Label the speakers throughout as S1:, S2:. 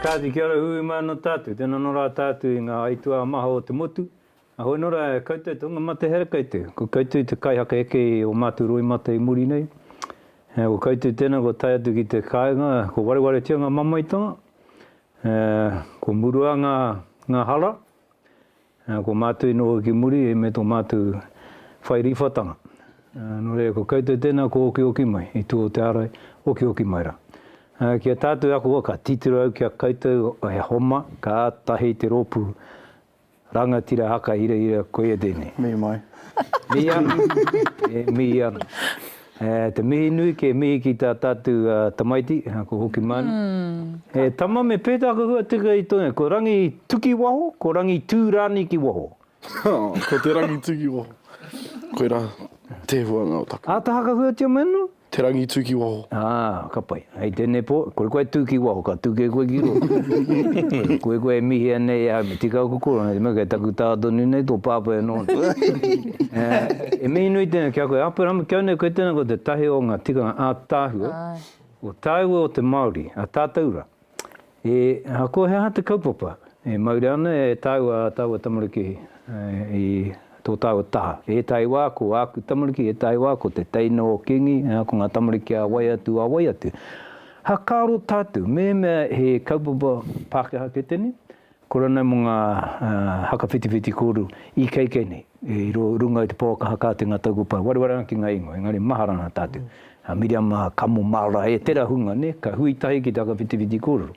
S1: Kāti, kia ora hui mai anō tātou. Tēnā nō rā tātou i ngā aituā maha o te motu. Ahoi nō rā e koutou tō ngā mate hera koutou. Ko koutou te kaihaka eke i o mātou roimata i muri nei. Ko koutou tēnā kua tae atu ki te kāinga, kua warewaretia ngā mamaetanga, kua murua ngā hara, Ā, ko mātou i noho ki muri me tō mātou whai rīwhatanga. Ā, nō reira, ko koutou tēnā kua okioki mai, i tua o te ārai, okioki mai rā. Ā, ki a tātou e ako ai, ka titiro au ki a koutou he homa, kātahi te rōpū rangatira haka hirahira, koia tēnei. Mī mai.
S2: Mī ana.
S1: E mī ana. Te mihi nui ke mihi ki tā tātou tamaiti, ko Hoki Manu. He tama me pētā ka hua tika i tōna, ko Rangi tuki waho, ko Rangi tū rānei ki waho. Ko te
S2: Rangi tū ki waho. Koirā te huanga o taku. Āta hakahuatia mai anō?
S1: Te Rangi tū ki waho.
S2: Ā, ka pai.
S1: Hei tēnei pō, kore koe tū ki waho, ka tū kē koe ki roto. Kore koe e mihi ana e au, me tika au ko korona, te mea kei taku tā tonu nei tō pāpā e noho nei. E mihi nui tēnei ki a koe, Aperahama, kia nei koe tēnā, koe te tahi o ngā tikanga ātaahua o tāua o te Māori, a tātou rā. E, aha, ko he aha te kaupapa? E mauri ana e tāua ā tāua tamariki i tō tāua taha. Ētahi wā ko āku tamariki, ētahi wā ko te teina o Kīngi, ā, ko ngā tamariki a wai atu, a wai atu. Hakaaro tātou, mehemea he kaupapa Pākehā kē tēnei, ko ranei mō ngā, ā, haka whitiwhiti kōrero i keikei nei. I runga i te Pouakaha Kāti ngā tau kua pae wareware ana ki ngā ingoa, engari mahara ana tātou. A Miriam a Kamo Mara, e tera hunga ne, ka hui tahi ki te whakawhitiwhiti kōrero.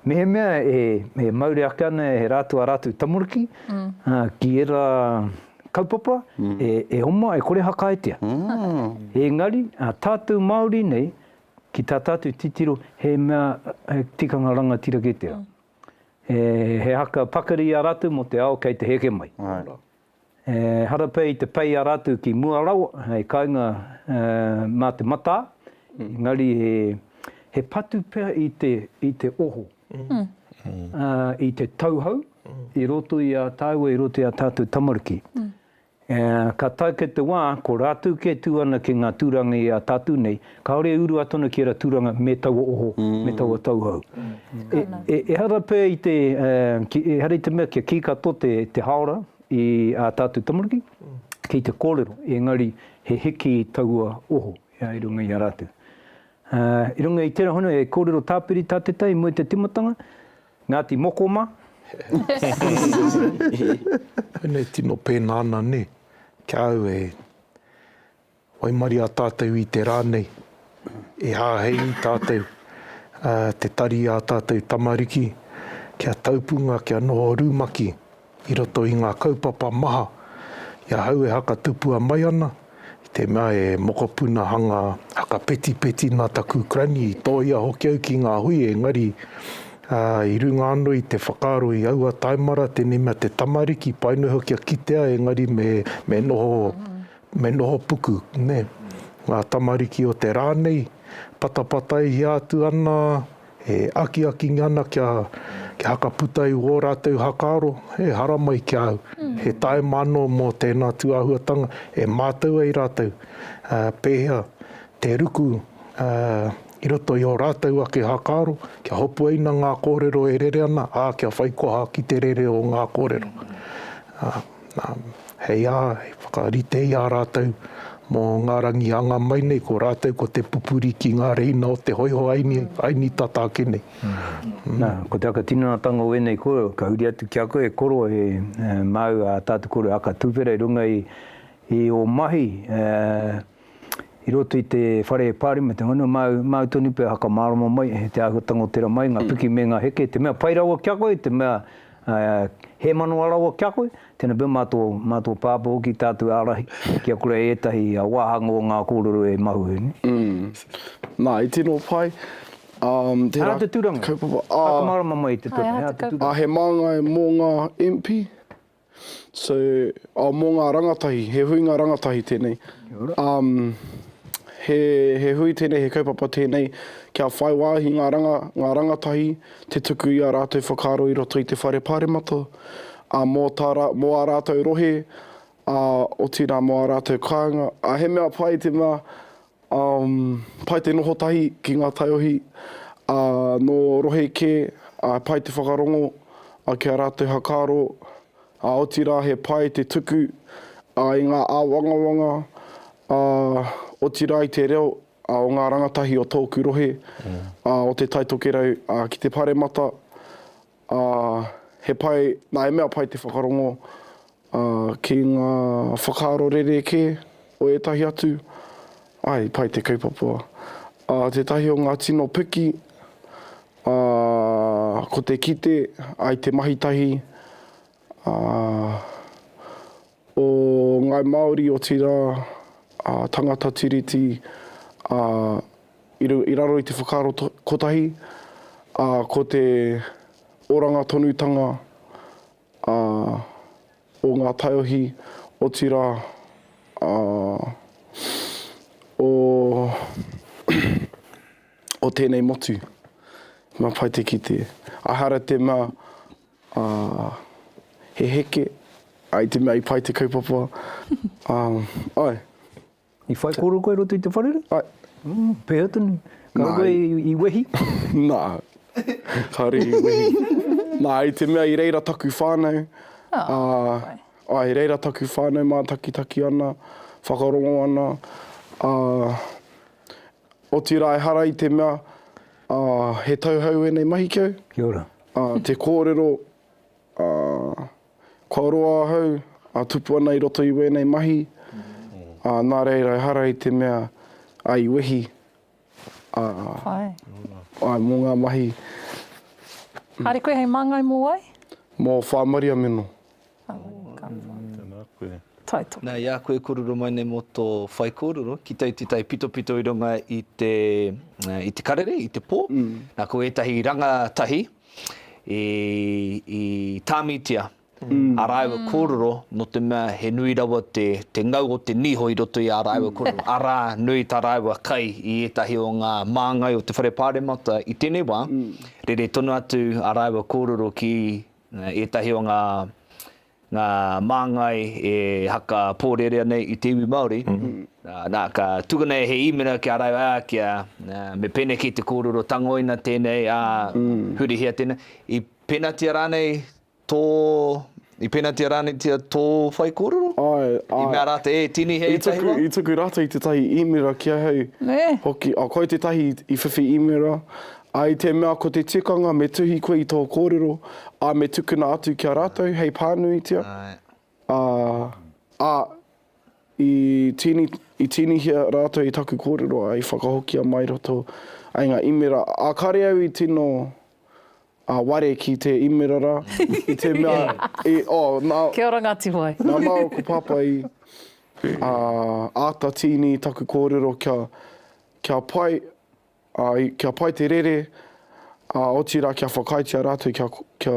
S1: Mehemea e e mauri ake ana e rātou a rātou tamariki, a, ki era kaupapa e e oma e kore hakaetia. Engari, a tātou Māori nei, ki tā tātou titiro, he mea, he tikanga rangatira kē tera. He haka pakari i a rātou mō te ao kei te heke mai. He harapea i te pei a rātou ki mua rawa, hei kainga mā te matā, engari he patu pea i te oho, i te tauhou i roto i a tāua, i roto i a tātou tamariki. Ā, ka tae kei te wā, ko rātou kē tū ana ki ngā tūranga i a tātou nei, kāore e urua atu ana ki ērā tūranga me taua oho, me taua tauhou. E, ehara pea i te, ehara i te mea kia kī katoa te, te hāora i ā tātou tamariki ki te kōrero, engari he hiki taua oho i runga i a rātou. Ā, i runga i tērā hono, e kōrero tāpiri tā Te Tai i mua i te tīmatanga, Ngati Mokoma.
S3: Whene tino pena ana ne, kia au e waimaria tatou i te ra nei, e hahei i tatou te tari a tatou tamariki kia taupunga kia noho rumaki i roto i ngā kaupapa maha i ahau e hakatupua mai ana, i te mea e mokopuna hanga hakapetipeti nā taku granny i tōia hoki au ki ngā hui engari i runga anō i te whakaaro i aua taimara tēnei mea te tamariki pai noho kia kitea engari me me noho me noho puku nē ngā tamariki o te rā nei patapatai hia atu ana E akiaki nge ana kia hakaputa i wō rātou hakaaro, e haramai ki a au. He taima anō mō tēnā tūāhuatanga e mātau ai rātou pēhea te ruku i roto i ō rātou ake hakaaro, kia hopuaina ngā kōrero e rere ana, ā, kia whai koha ki te rere o ngā kōrero. Hei aha, i whakarite i a rātou mō ngā rangi anga mai nei, ko rātou ko te pupuri ki ngā reina o te hoiho Aini tata ake nei. Nā,
S1: ko te aka tinanatanga o ēnei kōrero, ka huri atu ki a koe e koro he māu a tātou kōrero aka tuwhera i runga i ō mahi, i roto i te whare Parliament, ngana māu, māu tonu pea haka mārama mai, he te āhua tangotera mai, ngā piki me ngā heke, te mea pai rawa kia koe, te mea he manawa rawa kia koe, tēnā pea mā tō, mā tō pāpā hoki tātou ārahi, ki a kore ētahi wāhanga o ngā kōrero e mahu ai. Nā,
S2: i tino pai. He
S1: aha te tūranga? Haka mārama mai i te pepa, he aha te tūranga? He māngai mō
S2: ngā MP? So, oh, mō ngā rangatahi, he huinga rangatahi tēnei. Um, he, he hui tēnei, he kaupapa tēnei, kia whai wāhi ngā, ranga, ngā rangatahi, te tuku i a rātou whakaaro i roto i te Whare Pāremata, a mō, tā, mō ā rātou rohe, a, otirā mō ā rātou kāinga. A, he mea pai te mea, Um, pai te noho tahi ki ngā taiohi a no rohe ke, a pai te whakarongo a ki a ratou hakaro, a otira he pai te tuku a i nga awangawanga a otira i te reo a o nga rangatahi o toku rohe a o te Taitokerau a ki te paremata Ā, he pai, nā, he mea pai te whakarongo ki ngā whakaaro rerekē o ētahi atu, āe, i pai te kaupapa. Ā, tētahi o ngā tino piki, ā, ko te kite ai te mahitahi, ā, o Ngāi Māori, otirā, ā, tangata Tiriti, ā, i runga, i raro i te whakaaro to, kotahi, ā, ko te oranga tonutanga, ā, o ngā taiohi, otirā, ā, o, o tēnei motu. Mā pai te kite. Ehara te mea, Ā, he heke, ā, i te mea i pai te kaupapa, ā, āe.
S1: I whai kōrero koe i roto i te wharere? Āe.
S2: Pēhea tonu?
S1: Ka roa koe i wehi? Nā,
S2: kāore i wehi. Nā, i te mea i reira taku whānau, ā, āe, i reira taku whānau mātakitaki ana, whakarongo ana, ā, Otirā ehara i te mea, ā, he tauhou ēnei mahi ki au. Kia ora. Ā,
S1: te kōrero,
S2: ā, kua roa ahau, ā, tupu ana i roto i wēnei mahi, ā, nā reira ehara i te mea, ā, i wehi, ā, āe, mō ngā mahi.
S4: Kāre koe hei māngai mō wai? Mō Whāmaria
S2: Meno. Tēnā koe.
S5: Tae tō. Nā, i a koe e kōrero mai nei mō tō whaikōrero, ki te iti tai pitopito i runga i te, i te karere, i te pō, nā, ko ētahi rangatahi i, i tāmitia ā rāua kōrero nō te mea he nui rawa te, te ngau o te niho i roto i ā rāua kōrero, arā, nui tā rāua kai i ētahi o ngā māngai o te Whare Pāremata i tēnei wā, rere tonu atu ā rāua kōrero ki Ētahi o ngā māngai e haka pōrerea nei i te iwi Māori, nā, ka tukuna e he īmera ki a rāua, ā, kia, me pēneki te kōrero tangoina tēnei, ā, hurihia tēnei. I penatia rānei tō, i penatia rāneitia tō whaikōrero? Āe, āe. I mea rātou, e, tīni he ētahi wā? I tuku rātou tētahi
S2: īmera ki ahau hoki, ā, koia tētahi i whiwhi īmera, I te mea ko te tikanga me tuhi koe i tō kōrero, ā, me tukuna atu ki a rātou hei pānuitia, ā. Ā, i tīni, i tīnihia rātou i taku kōrero, ā, i whakahokia mai roto ai ngā īmera, ā, kāre au i tino, ā, ware ki te īmera rā, i te mea, i, oh, nā. Kia
S4: ora Ngāti Wai. Nā māua ko Pāpā
S2: i, ā, āta tīni i taku kōrero kia, kia pai, Ā, kia pai te rere, ā, otirā kia whakaaetia rātou kia, kia,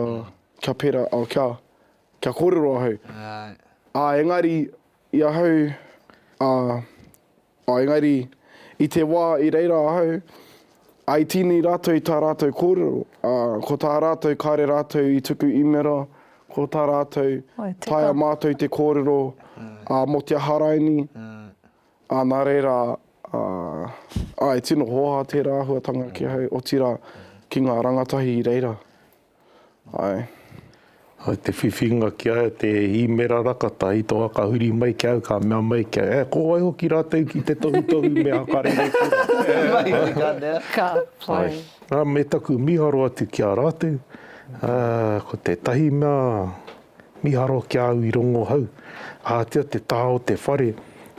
S2: kia pera, ā, kia, kia kōrero ahau. Ā, engari, i ahau, ā, ā, engari, i te wā i reira ahau, ā, i tīni rātou i tā rātou kōrero, ā, ko tā rātou kāre rātou i tuku īmera, ko tā rātou, taea mātou te kōrero, ā, mō te aha raini, Ā, nā reira, ā, ā, e tino hoaha tērā āhuatanga ki ahau, otirā, ki ngā rangatahi i reira. Āe.
S3: Āe, te whiwhinga ki a au, te īmera rakata, i toha ka huri mai ki a au, ka mea mai ki au, E, ko wai hoki rātou ki te tohutohu me akarere kura? Mai hoki ka mea.
S4: Ka pai. Āe, ā, me taku
S3: mīharo atu ki a rātou, ā, ko tētahi mea, Miharo ki a au i rongohau, ahatia te taha o te whare,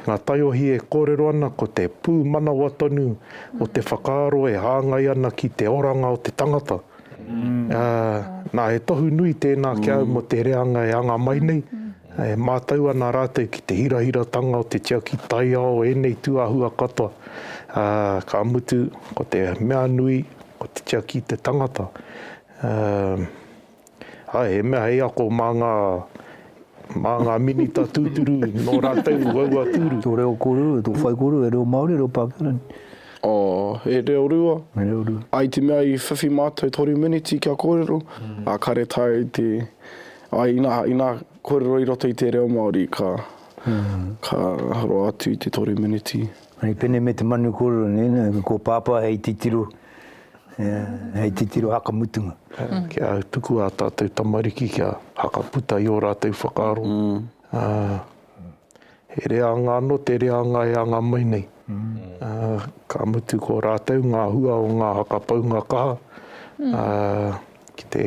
S3: nga taiohi e korero ana ko te pumanawa tonu o te whakaaro e hangai ana ki te oranga o te tangata. Na, he tohu nui tena ki a au mo te reanga e anga mai nei, e matau ana ratou ki te hirahiratanga o te tiaki taiao enei tuahua katoa, ka mutu ko te mea nui ko te tiaki i te tangata. Ae, he mea hei ako mā ngā, mā ngā minita tūturu nō rātou waua tūru. Tō reo kōrero, tō
S1: whai kōrero, he reo Māori, he reo Pākehā rānei? Oh,
S2: he reo rua. He reo rua. I te
S1: mea i whiwhi
S2: mātou toru miniti kia kōrero, ā, kāre tae te, āe, inā, inā kōrero i roto i te reo Māori, ka, ka roa atu i te toru miniti. Hei pene me te
S1: manu kōrero nei, nā, ko Pāpā hei titiro, Hei titiro hakamutunga. Kia
S3: tuku ā tātou tamariki kia hakaputa i ō rātou whakaaro. He reanga anō te reanga e anga mai nei. Ka mutu ko rātou ngā hua o ngā hakapaunga kaha ki te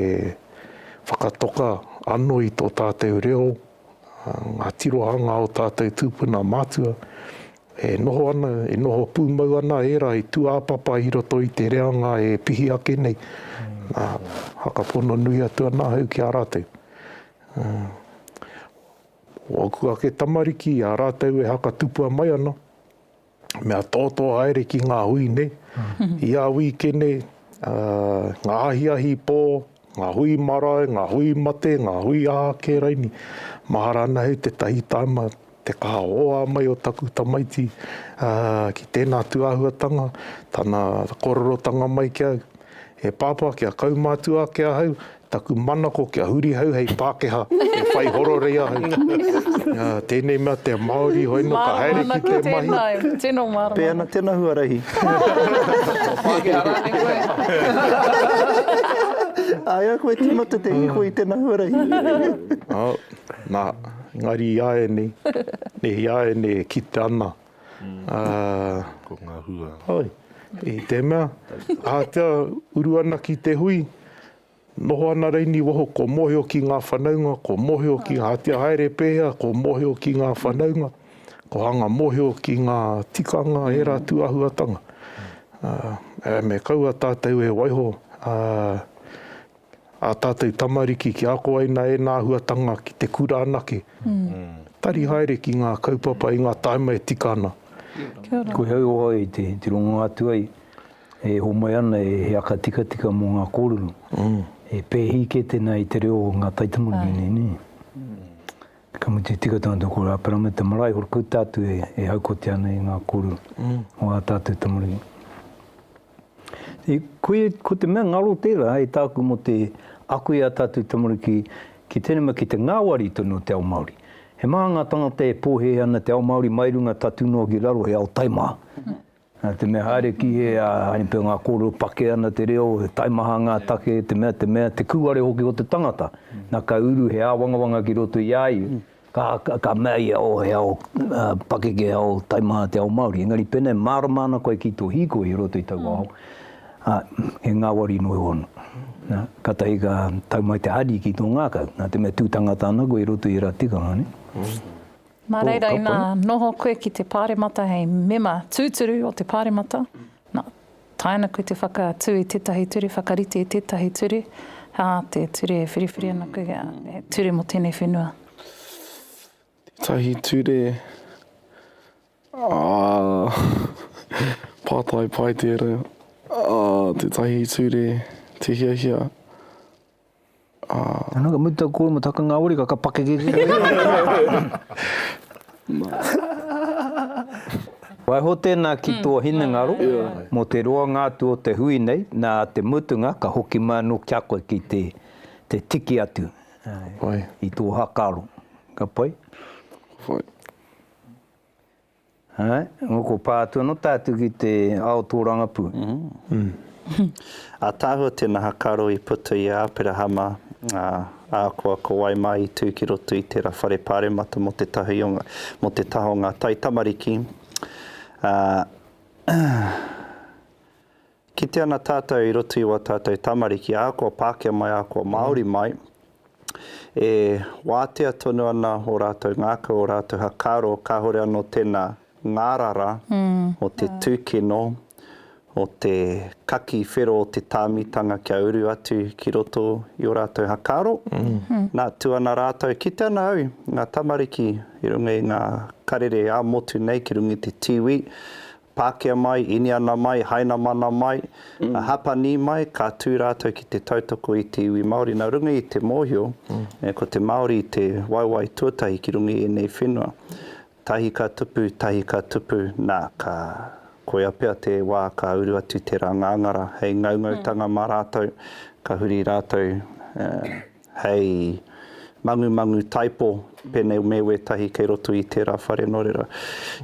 S3: whakatoka anō i tō tātou reo, ngā tirohanga o tātou tūpuna mātua, E noho ana, e noho pūmau ana ērā i tūāpapa i roto i te reanga e pihi ake nei, ā, whakapono nui atu ana ahau ki a rātou. Ko ōku ake tamariki, ā rātou e hakatupua mai ana, mea tōtō haere ki ngā hui nei, i a wīkene, ngā ahiahi pō, Ngā hui marae, ngā hui mate, ngā hui aha kē raini, mahara ana hei tētahi tāima te kaha hoa mai o taku tamaiti ki tēnā atu āhuatanga, tana kororotanga mai ki au, E Pāpā, kia kaumātua ake ahau, taku manako kia huri hau hei Pākehā e whai hororei ahau. Tēnei mea te Māori, hoi nō ka haere ki te mahi. Māna hoki tēnā, tēnā mahi.
S4: Tēnā huarahi.
S5: Ko Pākehā rānei koe?
S6: Āe au koe tīmata te hīkoi i tēnā huarahi. Oh, nā.
S3: Engari i āianei, nē, i āianei e kite ana.
S7: Ko ngā hua. Hoi, i
S3: te mea, ahatia uru ana ki te hui, Noho ana Reini waho kua mohio ki nga whanaunga, kua mohio ki nga atia haere pehea, kua mohio ki nga whanaunga, kua hanga mohio ki nga tikanga era tu ahuatanga. Ea me kaua tatou e waiho a tatou tamariki ki ako ai na ena ahuatanga ki te kura anake. Tari haere ki nga kaupapa i nga taima e tika ana. Kia ora. Koia
S1: au i te rongo atu ai. E homoe ana e he aka tikatika mō ngā kōrero, e pēhi kē tēnā i te reo o ngā taitamoni nei, nē? Ka mutu, tika tonu tō kōrero, āpera me te marae, hoki koe tātou e haukotia ana i ngā kōrero o ā tātou tamariki. Koia, ko te mea ngaro tērā e tāku mō te ako i ā tātou tamariki ki tēnei mea, ki te ngāwari tonu o te ao Māori. He maha ngā tāngata e pōhēhē ana te ao Māori mai runga tatū noa ki raro, he ao taimaha. Nā te mea haere ki hē a Hanipe ngā kōrero pake ana te reo, he taimaha ngā take, te mea, te mea, te kūare hoki o te tangata. Nā ka uru he āwangawanga ki roto i a ia, ka, ka mea ia, oh, he ao pakeke, he ao taimaha te ao Māori. Engari pēnā e mārama ana koe ki tō hīkoi i roto i taua ao, ā, he ngāwari noa ihoana. Nā, kātahi ka tau mai te hari ki tō ngākau, nā te mea tū tangata ana koe i roto i ērā tikanga, nē. Mā
S4: reira ina noho koe ki te Pāremata hei mema tūturu o te Pāremata, nā, tae ana koe te whakaatu i tētahi ture, whakarite i tētahi ture, hā, te ture e whiriwhiri ana koe, he ture mō tēnei whenua. Tētahi
S2: ture, pātai pai tērā, tētahi ture, te hiahia,
S1: Anō, ka mutu taku kōrero mō te haka ngāwari, ka pakeke ki te reo. Waiho tēnā ki tō hinengaro mō te roanga atu o te hui nei, nā te mutunga ka hoki mai anō ki a koe ki te tiki atu i tō haka aro. Ka pai? Ka pai. Nga kua pa atu ano tatu ki te ao torangapu.
S6: Atahua te naha karo i puta i a Aperahama, a, ahakoa ko wai mai i tu ki roto i tera whare paremata mo te tahi o, mo te taha o nga taitamariki, a, Kite ana tātou i roto i wā tātou tamariki ahakoa Pākehā mai ahakoa Māori mai, e wātea tonu ana o rātou ngākau, o rātou hakaro, kāore anō tēnā ngārara o te tūkino, o te kaki whero o te tāmitanga kia uru atu ki roto i o rātou hakaro. Nā, tū ana rātou, kite ana au, ngā tamariki i runga i ngā karere ā-motu nei ki runga i te tīwī, Pākehā mai, Iniana mai, Hainamana mai, Hapani mai, ka tū rātou ki te tautoko i te iwi Māori. Nā runga i te mōhio, ko te Māori te waewae tuatahi ki runga i ēnei whenua. Tahi ka tupu, tahi ka tupu, nā, ka, koia pea te wā ka uru atu te rā ngāngara hei ngaungautanga mā rātou, ka huri rātou, hei mangumangu taipo, pēnei me wētahi kei roto i tērā whare nō reira.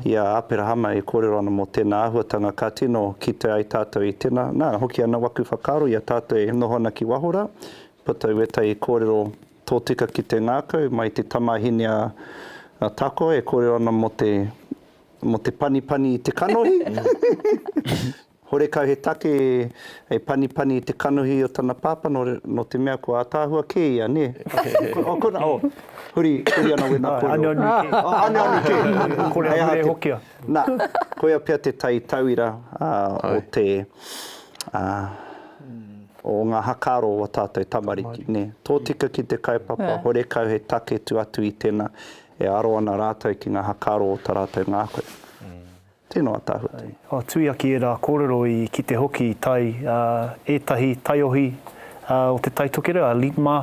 S6: I a Aperahama e kōrero ana mō tēnā āhuatanga ka tino kite ai tātou i tēnā, nā, hoki ana waku whakaaro i a tātou e noho ana ki waho rā, puta i wētahi kōrero tōtika ki te ngākau, mai i te tamāhine a Takoa e kōrero ana mō te, mō te panipani i te kanohi. Horekau he take e panipani i te kanohi o tana pāpā nō te mea kua ataahua kē ia, nē? Oh, kona, oh, huri, huri ana wena kōrero. Āe, aneone kē. Oh, aneone kē. Kore a Huri e hokia.
S3: Nā,
S6: koia pea te tai tauira o te, o ngā hakaaro o ō tātou tamariki, nē? Tōtika ki te kaupapa, horekau he take tu atu i tēnā e aro ana rātou ki ngā hakaaro o tā rātou ngākau. Tēnā, Ataahua Tui. Ka tui ake ērā
S3: kōrero i kite hoki i tae ētahi taiohi o Te Tai Tokerau, a LIPMA,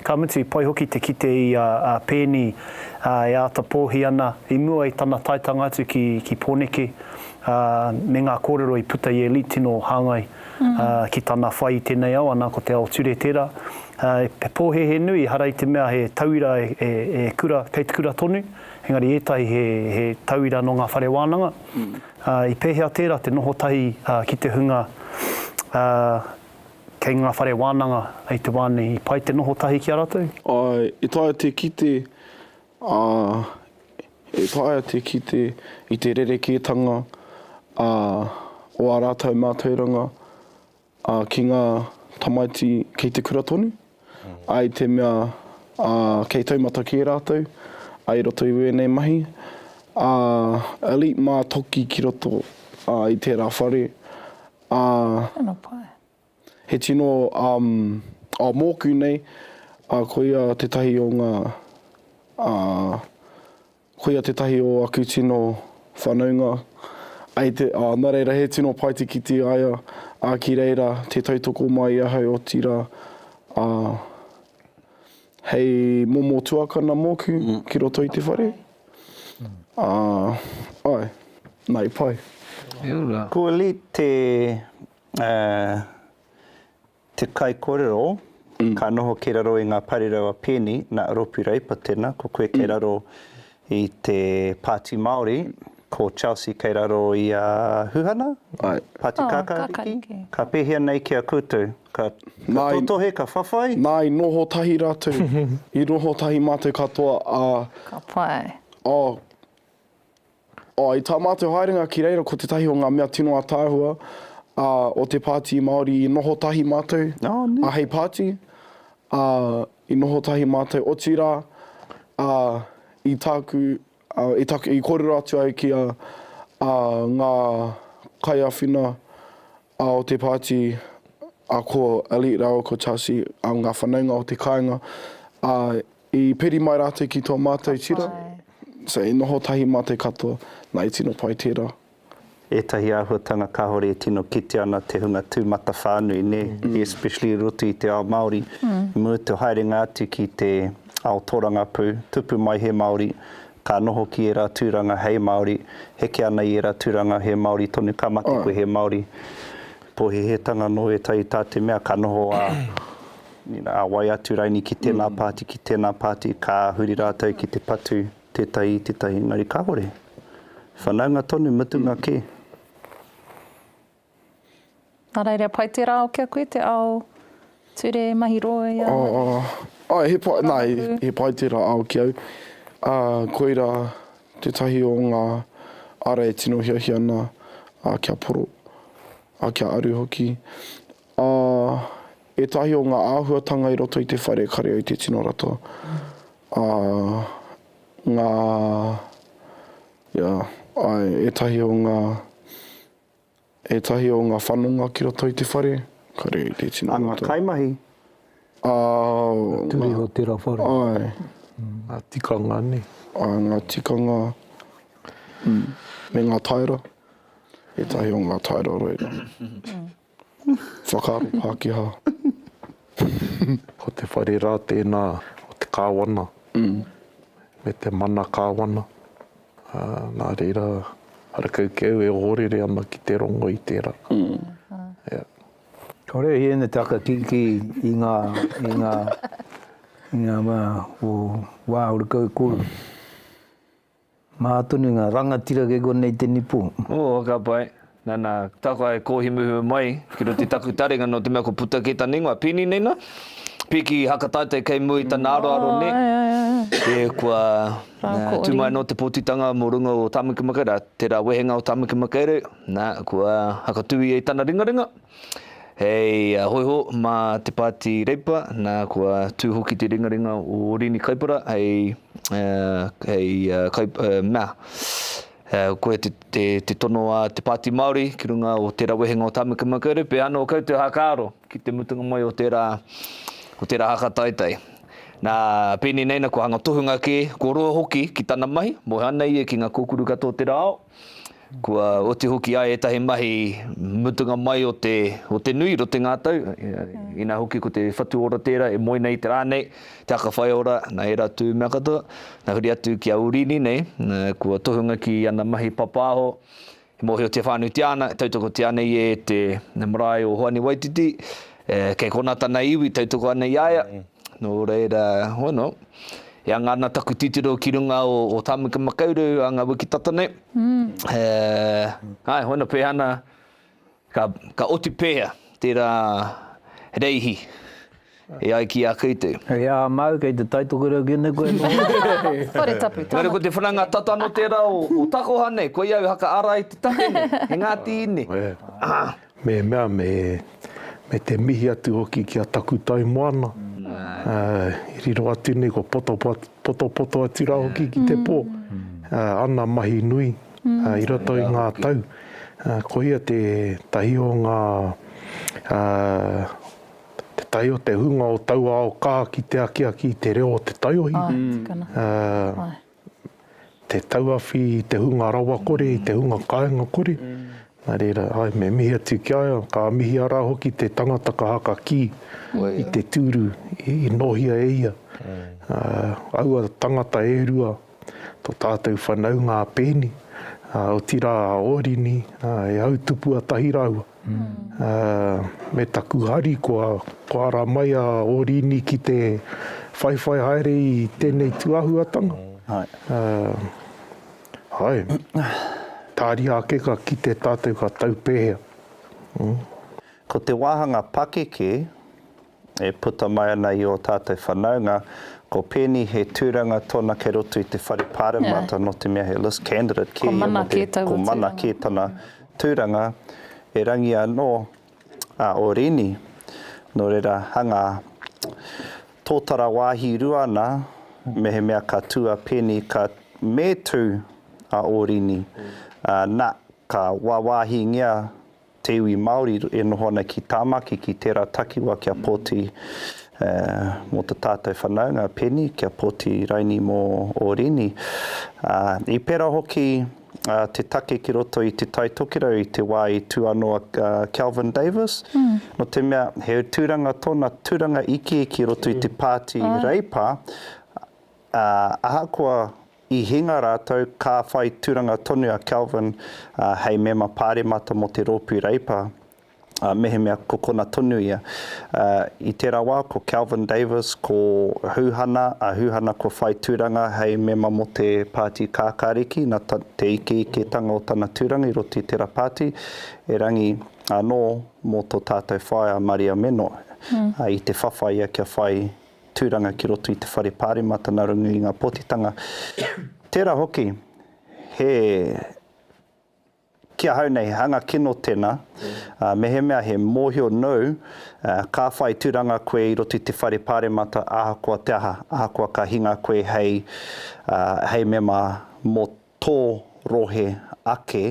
S3: ka mutu i pai hoki te kite i a Peeni e āta pōhi ana i mua i tana taetanga atu ki Pōneke me ngā kōrero i puta i Elite tino hāngai ki tana whai i tēnei ao, ana ko te ao ture tērā. He pōhēhē nui, ehara i te mea he tauira e kura, kei te kura tonu. Engari ētahi he, he tauira nō ngā whare wānanga. Ā, i pēhea tērā te noho tahi ā, ki te hunga ā, kei ngā whare wānanga i te wā nei? I pai te noho tahi ki a rātou? Āe, e taea te
S2: kite, ā, e taea te kite i te rerekētanga, ā, o ā rātou mātauranga, Ā, ki ngā tamaiti kei te kura tonu, ā, i te mea, ā, kei taumata kē rātou, ā, i roto i wēnei mahi, ā, Elite mā toki ki roto, ā, i tērā whare, ā,
S4: Tēnā pai. he tino,
S2: um, ā, mōku nei, ā, koia tētahi o ngā, ā, Koia tētahi o aku tino whānaunga, ai te, ā, nā reira, he tino paetikiti a ia, ā, ki reira, tē tautoko mai ahau, otirā, ā, hei momo tuakana mōku ki roto i te whare, ā, āe, nā, i pai. Kua
S6: li te, ā, Te kaikorero, Ka noho ki raro i ngā parirawa pēni, na, Ropi Reipa tena, ko koe kei raro i te Pāti Māori, ko Chelsea kei raro i a Huhana, Pāti Oh, Kākāriki. Kākāriki. Ka pēhea nei ki a koutou? Ka, ka Nā i- totohe, ka whawhai? Nā, i noho tahi
S2: rātou, i noho tahi mātou katoa, ā, Ka pai.
S4: oh,
S2: I tā mātou haerenga ki reira ko tētahi o ngā mea tino ataahua o te Pāti Māori i noho tahi mātou hei pāti, i noho tahi mātou otirā i tāku, i kōrero atu ai ki a ngā kaiawhina A o te pāti a ko Elliot rāua ko Chelsea, a ngā whanaunga o te kāinga, a i peri mai rātou ki tō mātou tira, so i noho tahi mātou katoa, na i tino pai tērā. Ētahi
S6: āhuatanga kāore e tino kitea ana te hunga tūmatawhānui, nē? Especially i roto i te ao Māori, i muri te haerenga atu ki te ao tōrangapū, tupu mai he Māori, Ka noho ki era turanga hei Maori, heke ana i era turanga he Maori tonu, ka mate koe he Maori. Pohehetanga no etahi ta te mea ka noho a a wai atu raini ki tena party, ki tena party, ka huri ratou ki te patu tetahi i tetahi engari kahore. Whanaunga tonu mutunga ke.
S4: Nā reira, pai tērā ao ki a koe, te ao ture mahi roi a. Āe, āe, he pai, nā,
S2: he pai tērā ao ki au. Ā, koirā tētahi o ngā ara e tino hiahia ana kia poro, ā, kia aru hoki. Ā, ētahi o ngā āhuatanga i roto i te whare kare au te tino rata. Ā, ngā, ia, āe, ētahi o ngā. Ētahi o ngā whanonga ki roto i te whare, ka rere te tino roto. A ngā kaimahi.
S6: A ngā.
S1: Turi o tera whare. Ai.
S2: Ngā
S3: tikanga nei. A ngā tikanga
S2: me ngā taera. Ētahi o ngā taera o reira. Whakaaro Pākehā.
S3: Ko te whare rā tēnā o te kāwana me te mana kāwana. Nā reira, harakau ki au e ohorere ana ki te rongo i tērā. Kāore
S1: i ēnei taka kikī i ngā, i ngā, i ngā wā o Wāhuru Kaukōrū. Mahā tonu ngā rangatira kei konei te nipo. Ō, ka pai.
S5: Nana, takoa e kohi muhemu mai ki roto i taku taringa no te mea ko puta kei tana ingoa, Pini nei na, piki hakataite kei mua i tana aroaro ne, e kua tu mai no te potitanga mo runga o Tamaki Makaurau, tera wehenga o Tamaki Makaurau, na, kua hakatu ia i tana ringaringa, hei hoiho ma te Pati Reipa, na, kua tu hoki te ringaringa o Rini Kaipara hei, hei, mea. Koe te tono a te Pāti Māori ki runga o tērā wehenga o Tāmaki Makaurau, pēhea anō koutou hākāro ki te mutunga mai o tērā, o tērā haka taitai. Nā, pēnei nei nā kua hanga tohunga kē, kua roa hoki ki tana mahi, moe ana ia ki ngā kōkuru katoa o tērā ao, kua oti hoki ai ētahi mahi mutunga mai o te, o te nui, roti ngā tau, inā hoki ko te whatu ora tērā e moe nei i te rā nei, Te aka whai ora, na era tu mea katoa, na huri atu ki a Urini nei, na kua tohunga ki ana mahi papaaho, e mohiotia whanutia ana, e tautokotia ana i e te marae o Hoani Waititi, e, kei kona tana iwi, tautoko ana i a ia, no reira, hoi no, e anga ana taku titiro ki runga o, o Tamuka Makaurau a nga wiki tata nei, e, ae, hoi no, pehana, Ka, ka oti pēhea tērā Reihi e ai ki a koutou? He aha māu kei
S1: te taitokerau ki nei koe noa? Whare tapu,
S4: tana. Engari ko te whananga tata
S5: anō tērā o, o takoha nei, koia au haka ara i te take nei, he Ngāti Ine. Me
S3: mea, me, me te mihi atu hoki ki a Takutaimoana, i riro atu nei ko Potopoto atu rā hoki ki te pō, ana mahi nui. I roto i ngā tau, koia tētahi o ngā, tētahi o te hunga o taua ao kā ki te akiaki i te reo o te taiohi, te tauawhi i te hunga rawakore, i te hunga kāinga kore, nā reira, āe, me mihi atu ki a ia, ka mihi arā hoki te tangata ka haka kī i te tūru i nōhia e ia. Aua tangata e rua, tō tātou whanaunga a Pēni, ā, otirā a Ōrini, ā, e au tupua tahi rāua. Ā, me taku hari kua, kua ara mai a Ōrini ki te whaiwhai haere i tēnei tūāhuatanga. Ā, āe, tāria ake ka kite tātou ka tau pēhea.
S6: Ko te wāhanga pakeke, e puta mai ana i ō tātou whanaunga, ko Penny he tūranga tōna kei roto i te whare pāremata nō te mea he list candidate kē ia mō te, ko Mana kē tana tūranga, erangi anō a Orini, nō reira hangā tōtara wāhi rua ana mehemea ka tū a Penny ka, me tū a Orini, ā, na, ka wāwāhingia te iwi Māori e noho ana ki Tāmaki, ki tērā takiwā kia poti mō ta tātou whanaunga, Penny, kia poti raini mō ō rini. I pērā hoki te take ki roto i Te Tai Tokerau i te wā i tū anō a Kelvin Davis, nō te mea he tūranga tōna, tūranga ikiiki i roto i te pāti Reipa, ahakoa, I hinga rātou, ka whai tūranga tonu a Kelvin hei mema pāremata mō te Rōpū Reipa, mehemea ko kona tonu ia. I tērā wā, ko Kelvin Davis, ko Hūhana, a Hūhana kua whai tūranga hei mema mō te Pāti Kākāriki, nā te ikeiketanga o tana tūranga i roto i tērā pāti, erangi anō mō tō tātou whaea Maria Meno, i te whawhai ia kia whai tūranga ki roto i te whare Pāremata nā runga i ngā pōtitanga. Tērā hoki, he, ki ahau nei, hanga kino tēnā, ā, mehemea he mōhio nou, ā, ka whai tūranga koe i roto i te whare Pāremata ahakoa te aha, ahakoa ka hinga koe hei, ā, hei mema mō tō rohe ake,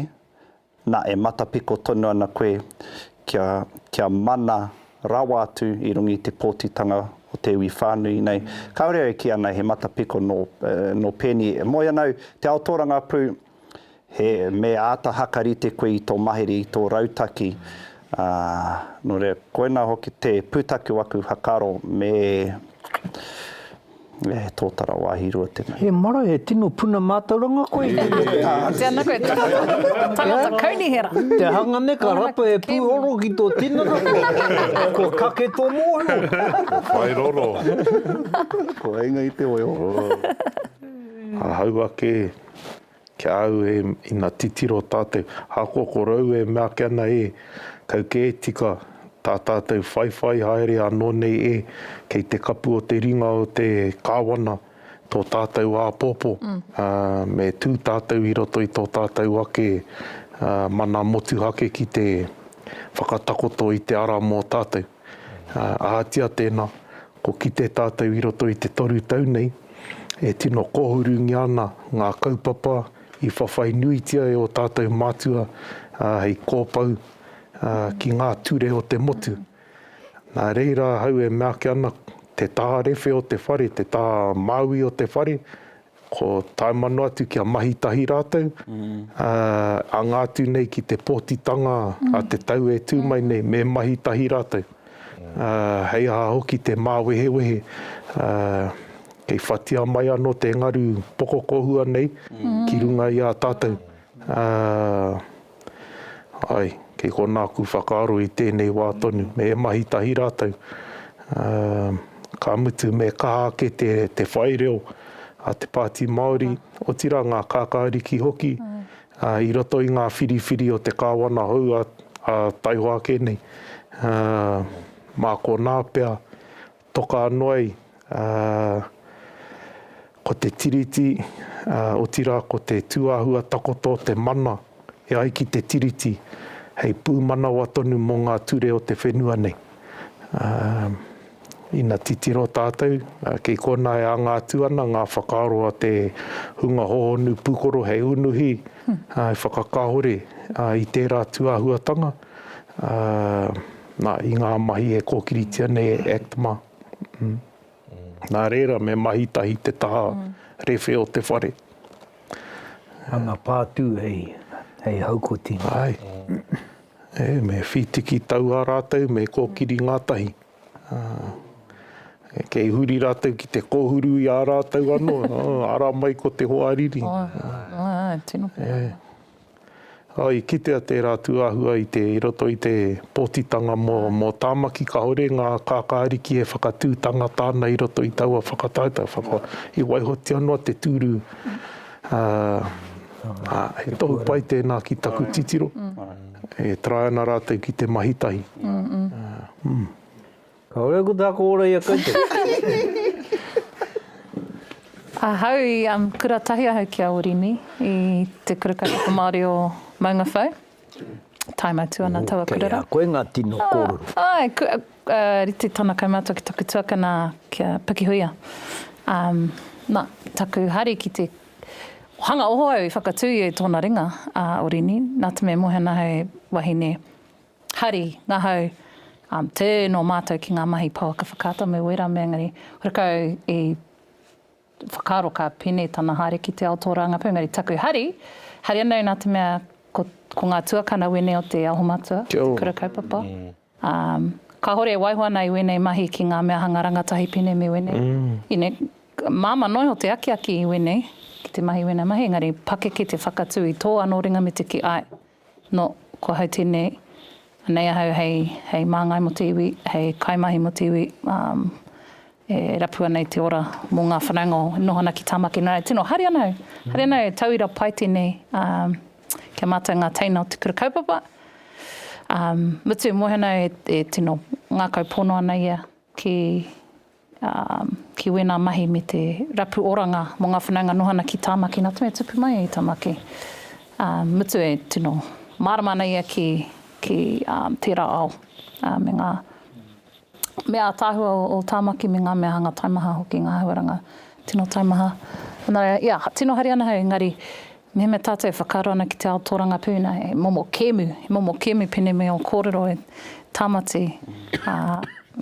S6: Na, e matapiko tonu ana koe kia, kia mana rawa atu i runga i te pōtitanga o te iwi whānui nei. Kāore au e kī ana he matapiko nō, nō Penny, e moe ana au, te ao tōrangapū, he, me āta hakarite koe i tō mahere, i tō rautaki, ā, nō reira, koinā hoki te pūtake o aku whakaaro, me, E he tōtara wāhi rua tēnei. He marae he tino
S1: puna mātauranga koe i te mea ka āki. Tēnā koe
S4: tangata, tangata kaunihera. Te hanga nei ka
S1: rapa he pūhoro ki tō tinana koe, kua kake tō mōhio. Kua whai roro.
S6: Kua inga i te weo.
S3: Ahau ake. Ki a au e, ina titiro tātou, ahakoa ko rou e mea ake ana e, kau kē tika tā tātou whaiwhai haere anō nei e, kei te kapu o te ringa o te Kāwana tō tātou āpōpō, ā, me tū tātou i roto i tō tātou ake mana motuhake ki te whakatakoto i te ara mō tātou. Ahatia tēnā, Ko Kite tātou i roto i te toru tau nei, e tino kōhurungia ana ngā kaupapa i whawhai nuitia e ō tātou mātua hei kōpau ki ngā ture o te motu. Nā reira ahau e meake ana, te taha rewhe o te whare, te taha māui o te whare, Ko Taemano atu kia mahi tahi rātou, anga atu nei ki te pōtitanga a te tau e tū mai nei, me mahi tahi rātou. Hei aha hoki te māwehewehe, kei whatia mai anō te ngaru pokokohua nei ki runga i a tātou. Āe, kei konā aku whakaaro i tēnei wā tonu, me mahi tahi rātou, ā, ka mutu me kaha ake te, te whai reo a te Pāti Māori, otirā ngā kākāriki hoki, ā, i roto i ngā whiriwhiri o te kāwana hou a, a taihoa ake nei. Ā, mā konā pea Toka noa i, ā, ko te Tiriti, ā, otirā ko te tūāhua takoto o te mana e ai ki te Tiriti hei pūmanawa tonu mō ngā ture o te whenua nei. Ā, ina titiro tātou, ā, kei konā e anga atu ana ngā whakaaro a te hunga hōhonu pūkoro hei unuhi, ā, hei whakakāhore, ā, i tērā tūāhuatanga. nā, i ngā mahi e kōkiritia nei e ACTMA. Nā reira, me mahi tahi te taha rewhe o te whare.
S1: Hanga pātū hei, hei haukoti. Āe.
S3: E, me whītiki taua rātou, me kōkiri ngātahi. Kei huri rātou ki te kōhuru i a rātou anō, ara mai ko te hoariri. Āe, āe, āe,
S4: tino pēhara.
S3: I kitea tērā tūāhua i te, i roto i te pōtitanga mō, mō Tāmaki kāore ngā kākā ariki e whakatū tangata ana i roto i taua whakataetae, whaka, i waihotia noa te tūru, ā, he tohu pai tēnā ki taku titiro, e try ana rātou ki te mahi tahi.
S1: Kaore ko taku ora i a koutou.
S4: Ahau i kura tahi ahau ki a Orini i te kura kaupapa Māori o Maungawhau. Taim atu ana taua kura rā. Kei a koe ngā tino
S1: kōrero. Āe, kua
S4: rite tana kaumātua ki taku tuakana ki a Pakihuia. Na, taku hari ki te hanga oho au i whakatū ia i tōna ringa a Orini, nā te mea e moe ana hei wahine. Hari, Ngahau, Um, tē nō mātou ki ngā mahi pouaka whakaata me wera mea engari, hore kau i whakaaro ka pine tana haere ki te ao tō Rāngapū engari taku hari, hari anō nā te mea ko, ko ngā tuakana wēnei o te aho matua, Kia ora. te kura kaupapa. Um, kāore e waiho ana i wēnei mahi ki ngā mea hanga rangatahi pine me wēnei. Ine, māmā noa iho te akiaki i wēnei, ki te mahi i wēnei mahi engari pakeke te whakatū i tō anō ringa me te kī, āe. No, kua hau tēnei, anei ahau hei, hei māngai mō te iwi, hei kaimahi mō te iwi, um, e rapu ana i te ora mō ngā whanaunga o, e noho ana ki Tāmaki nō rātou tino. Haere ana au, haere ana au, tauira pai tēnei, um, ki a mātou ngā teina o te kura kaupapa. Um, mutu, mōhio ana au e, e tino ngākau pono ana ia ki, ki wēnā mahi me te rapu oranga mō ngā whanaunga noho ana ki Tāmaki, nā te mea tupu mai i Tāmaki, ā, mutu e tino mārama ana ia ki, ki, ā, tērā ao, ā, me ngā mea ātaahua o Tāmaki me ngā mea hanga taimaha hoki, ngā āhuaranga tino taimaha. Nō reira, ia, tino haere ana hau, engari, Mehemea tātou e whakaaro ana ki te ao tōrangapū, nā, he momo kēmu, he momo kēmu pēnei me ō kōrero e Tāmati, ā,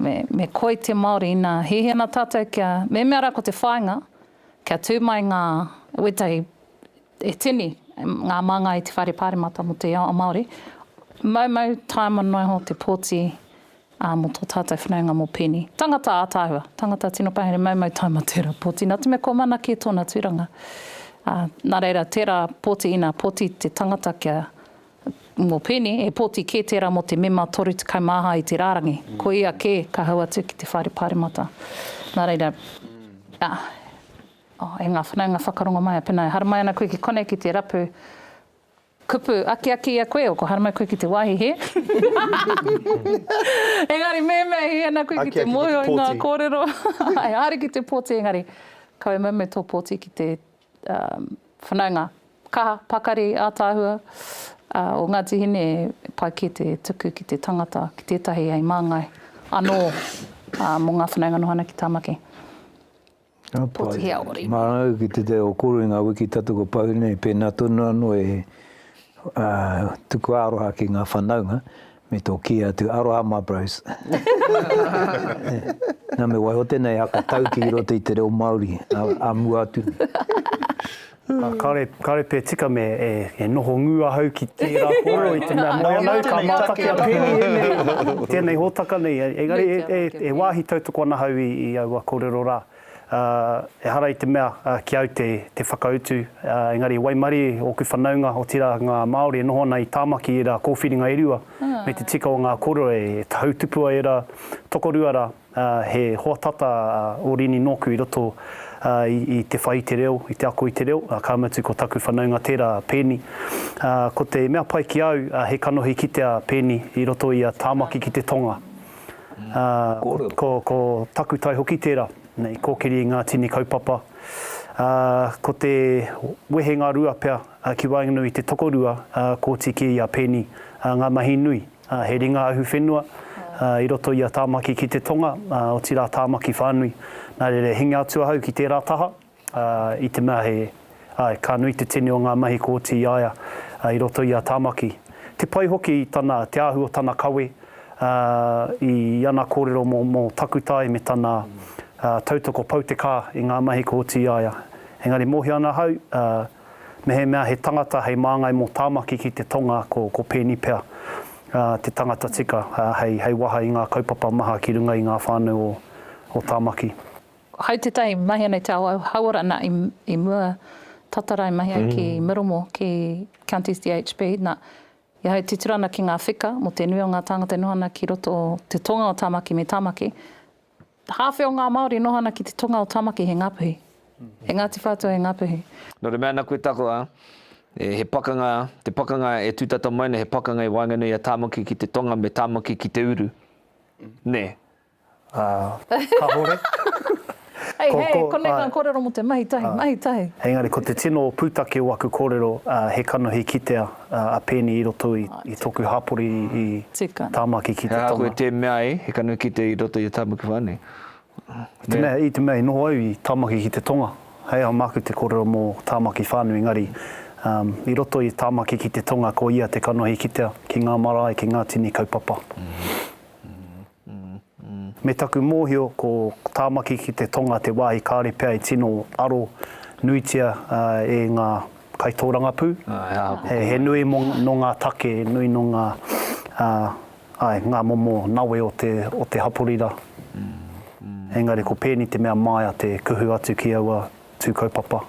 S4: me, me koi te Māori, nā, hiahia ana tātou kia, mehemea rā ko te whāinga, kia tū mai ngā, wētahi, e tini, ngā māngai i te Whare Pāremata mō te ao Māori, moumou, tae manoiho te pōti, Ā, mō tō tātou whanaunga mō Peni. Tangata ātaahua, tangata tino pahere maumau taima tērā pōti, nā te mea kua mana kē tōna tūranga. Ā, nā reira, tērā pōti, ina pōti te tangata kia, mō Peni, he pōti kē tērā mō te mema 31 i te rārangi. Ko ia kē ka hau atu ki te Whare Pāremata. Nā reira, ā, oh, e ngā whanaunga whakarongo maia, pēnā e haramai ana koe ki konei ki te rapu, Kupu, Akiaki i a koe, o ko Haramai koe ki te wāhi hē? Engari mēmea i hē ana koe ki te mōhio i ngā kōrero, āe, haere ki te pōti engari kaua mau me tō pōti ki te whanaunga kaha, pakari, ātaahua o Ngāti Hine e pai kē te tuku ki te tangata, ki tētahi hei māngai anō mō ngā whanaunga noho ana ki Tāmaki. Pōtihea-ori. Mā rāua ki te teo
S1: koro i ngā wiki tata kua pau nei, pēnā tonu anō e tuku aroha ki ngā whanaunga me tō kī atu, aroha mā bros. Nā me waiho tēnei haka tauki i roto i te reo Māori a mua atu nei. Kāore,
S8: kāore pea tika me e noho ngū ahau ki tērā kōrero i te mea moe ana au ka mātaki a Penny ēnei, tēnei hōtaka nei. Engari e wāhi tautoko ana ahau i aua kōrero rā. Ehara i te mea ki au te whakautu, engari i waimarie ōku whanaunga, otirā ngā Māori e noho ana i Tāmaki i ērā kōwhiringa e rua, me te tika o ngā kōrero e tautupua ērā tokorua rā. ā, he hoa tata a Orini nōku i roto i te whai i te reo, i te ako i te reo, ā, ka mutu ko taku whanaunga tērā a Pēni. Ā, ko te mea pai ki a au, ā, he kanohi kite a Pēni i roto i a Tāmaki ki te tonga. Ā, ko, ko takutai hoki tērā, i kōkiri i ngā tini kaupapa. Ā, ko te wehenga rua pea ki waenganui i te tokorua, ā, kōti kē i a Pēni, ā, ngā mahi nui. He ringa ahu whenua i roto i a Tāmaki ki te tonga, otirā Tāmaki whānui. Nā reira e hinga atu ahau ki tērā taha, i te mea he, āe, ka nui te tini o ngā mahi kua oti i a ia i roto i a Tāmaki. Te pai hoki tana, te ahu o tana kawe, i ana kōrero mō takutai me tana tautoko pau te kā i ngā mahi kua oti i a ia. Engari mōhio ana ahau, Mehemea he tangata hei māngai mō Tāmaki ki te tonga ko, ko Peeni pea te tangata tika hei, hei waha i ngā kaupapa maha ki runga i ngā whānau o, o Tāmaki. Hai tētahi
S4: mahi anei te ao hauora nā i, i mua tata rae mahi ai ki Miramore, ki Counties DHB, nā, i ahau titiro ana ki ngā whika mō te nui o ngā tāngata e noho ana ki roto o te tonga o Tāmaki me Tāmaki, Hāwhe o ngā Māori noho ana ki te tonga o Tamaki he Ngapuhi. He Ngāti Whātua he Ngapuhi. Nō te mea nā koe
S5: takoa, he pakanga, te pakanga e tūtata mai nei he pakanga i waenganui a Tāmaki ki te tonga me Tāmaki ki te uru. Nē? Ā,
S8: kāore. Hei, hei,
S4: konei ngā kōrero mō te mahi tahi, mahi tahi. Engari ko te tino
S8: pūtake o aku kōrero he kanohi kitea a Peni i roto i toku hapori i Tamaki ki te tonga. He aha koe te mea e, he
S5: kanu ki te i roto i a Tamaki whanui?
S8: I te mea i noho au i Tamaki ki te tonga, hei aha maku te korero mo Tamaki whanui engari i roto i Tamaki ki te tonga ko ia te kanohi kitea ki nga marae ki nga tini kaupapa. Me taku mōhio ko Tāmaki ki te Tonga te wāhi kāore pea e tino aro nuitia e ngā kaitōrangapū. He nui nō ngā take, he nui nō ngā, āe, ngā momo nawe o te, o te hapori rā. Engari ko pēni te mea māia te kuhu atu ki aua tū kaupapa.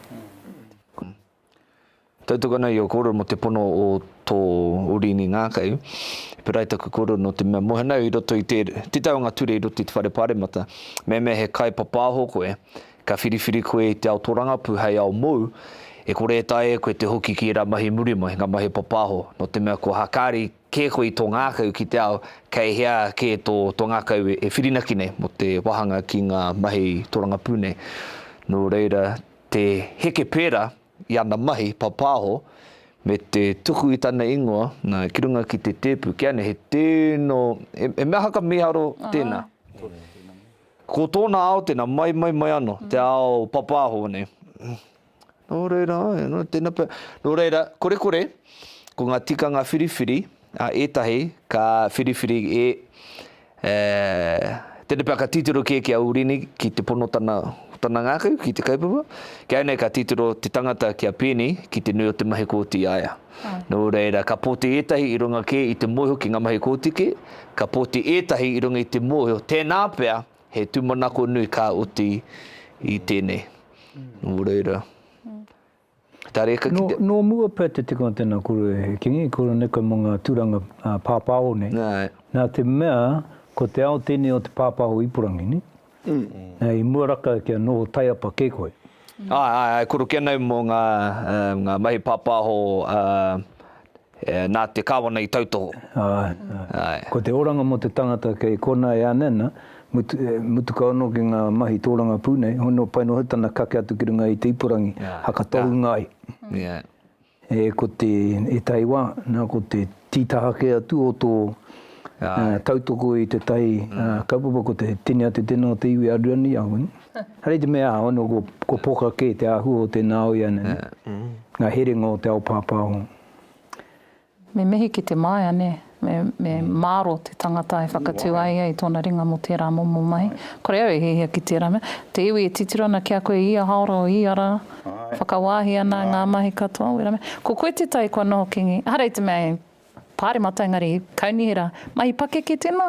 S5: Tautoko ana i o koro mo te pono o to Orini Ngakau. Perai taku koro no te mea mohana i roto i te tita o nga ture i roto i te whare paremata. Meamea he kai papaho koe, ka whiriwhiri koe i te ao torangapu hei ao mou, e kore e taea e koe te hoki ki era mahi muri mai, nga mahi papaho. No te mea kua hakari ke koe i to ngakau ki te ao, kei hea ke to to ngakau e whirinaki nei mo te wahanga ki nga mahi torangapu nei. No reira te heke pērā i ana mahi papāho me te tuku i tana ingoa ki runga ki te tēpu, kia nei he tēno, he mea haka mīharo tēnā. Ko tōna ao tēnā, mai, mai, mai anō, te ao papāho nei. Nō reira, nō reira, kore kore, ko ngā tikanga whiriwhiri, Ētahi ka whiriwhiri e Tēnei pea ka titiro kē ki a Urini ki te pono tana tana ngākau ki te kaupapa. Ki au nei ka titiro te tangata ki a Pēni ki te nui o te mahi kōti i a ia. Nō reira ka poti ētahi i runga kē i te mōhio ki ngā mahi kōti kē, ka poti ētahi i runga i te mōhio tēnā pea he tūmanako nui ka oti i tēnei. Nō reira. Tareka ki
S1: te. Nō mua pea te tikanga tēnā koro e Kingi, koro neka mō ngā tūranga pāpāho nei. Nā te mea, ko te ao tēnei o te pāpāho ipurangi, nē? Nē, i mua raka kia noho taiapa kē koe. Āe, āe, āe, koro
S5: kē nei mō ngā, ngā mahi pāpāho, ā. Nā te Kāwana i tautoho. Āe.
S1: Ko te oranga mō te tangata kei konā e ānei ana, mutu kau anō ki ngā mahi tōrangapū nei, hoi nō pai noho tana kake atu ki runga i te ipurangi, haka tohunga ai. E ko te, ētahi wā, nā ko te tītaha kē atu o tō tautoko i tētahi kaupapa ko te tini a te tena o te iwi a Ruaniarangi. Hei te mea hono ko, ko poka kē te āhua o tēnā au ianei, yeah. ngā herenga o te ao pāpāho.
S4: Me mihi ki te māia, nē, me, me mm. māro te tangata e whakatū ai ai tōna ringa mō tērā momo mahi. Kore au e hihia ki tērā mea. Te iwi e titiro ana ki a koe i a haora o i ara, whakawāhi ana ngā mahi katoa, wera mea. Ko koe te tai kua noho kingi, harei te mea e Pāremata engari Kaunihera, mahi pakeke tēnā?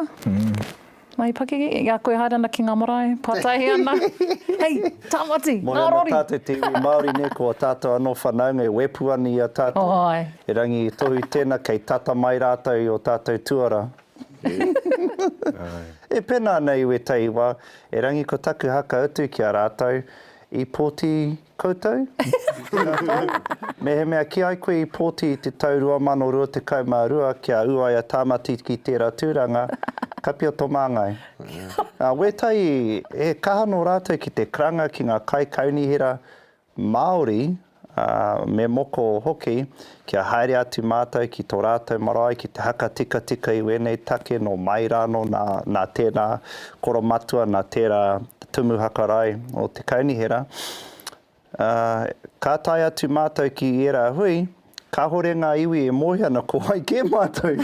S4: Mahi pakeke? I a koe haere ana ki ngā marae, pātaihe ana? Hei, Tāmati, Moe ana ngārori! tātou te iwi Māori
S6: nei, ko a tātou anō whanaunga e wepu ana i a tātou. Oh, ae. E Rangi Tohu tēna, kei tata mai rātou i o tātou tuara. Ae. E pena ana i wetahi wa, e Rangi ko taku haka utu ki a ratou, I pōti koutou? Mehemea kī ai koe i pōti i te tau 2022 kia ū ai a Tāmati ki tērā tūranga, kapia tō māngai. Nā Wētai, he kaha nō rātou ki te karanga ki ngā kaikaunihera Māori ā, me moko hoki, kia haere atu mātou ki tō rātou marae ki te haka tikatika i wēnei take nō mai rānō nā, nā tērā koromatua, nā tērā tumu hakarae o te kaunihera. Ā, ka tae atu mātou ki ērā hui, Kāhore ngā iwi e moe ana ko wai kē mātou.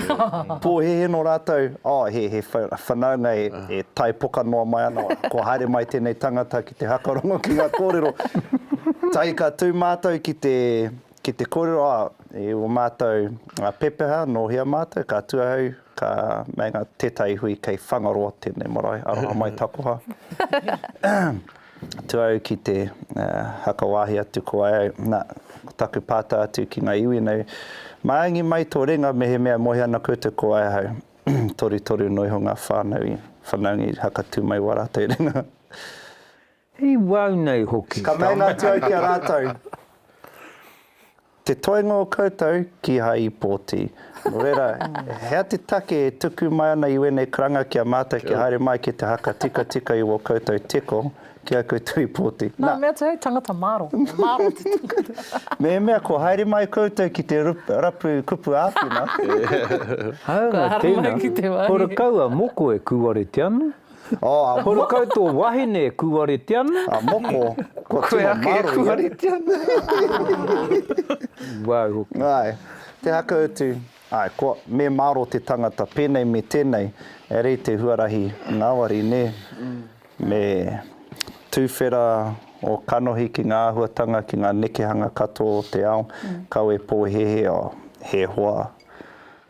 S6: Pōhēhē nō rātou, oh, he, he whanaunga e, e tae poka noa mai ana, kua haere mai tēnei tangata ki te hakarongo ki ngā kōrero. Tahi ka tū mātou ki te, ki te kōrero, oh, e o mātou pepeha, nō hea mātou, ka tū ahau, ka meinga tētahi hui kei Whangaroa tēnei marae, aroha mai takoha. atu au ki te haka wāhi atu ko ai au, na, ko taku pātau atu ki ngā iwi nei, Māngi mai tō renga mehemea e moe ana koutou ko ai ahau, torutoru noa iho ngā whānau i whanaungi haka tū mai wā rātou renga.
S1: I wau nei hoki. Ka meinga atu au ki a
S6: rātou. Te toenga o koutou kihai i pōti. Nō reira, hea te take e tuku mai ana i wēnei karanga ki a mātou kia haere mai ki te haka tikatika i wō koutou teko, kihai koutou i pōti. Nā. Mea atu hei tangata
S4: māro, e māro te tangata. Mehemea kua haere
S6: mai koutou ki te rapu kupu āwhina.
S1: Hāunga tēnā, kua rakau a moko e kūware te ano, Oh, a Moko. Horakau tō wahine e kūarete ana. A Moko, kua
S6: tino maro ia. Koe ake e kūarete ana. Wau
S1: hoki. Ae, te haka
S6: utu, ae, kua, me maro te tangata penei me tenei, e rei te huarahi ngawari, ne? Me tuwhera o kanohi ki nga ahuatanga, ki nga nekehanga katoa o te ao, kawe pohehe, oh, he hoa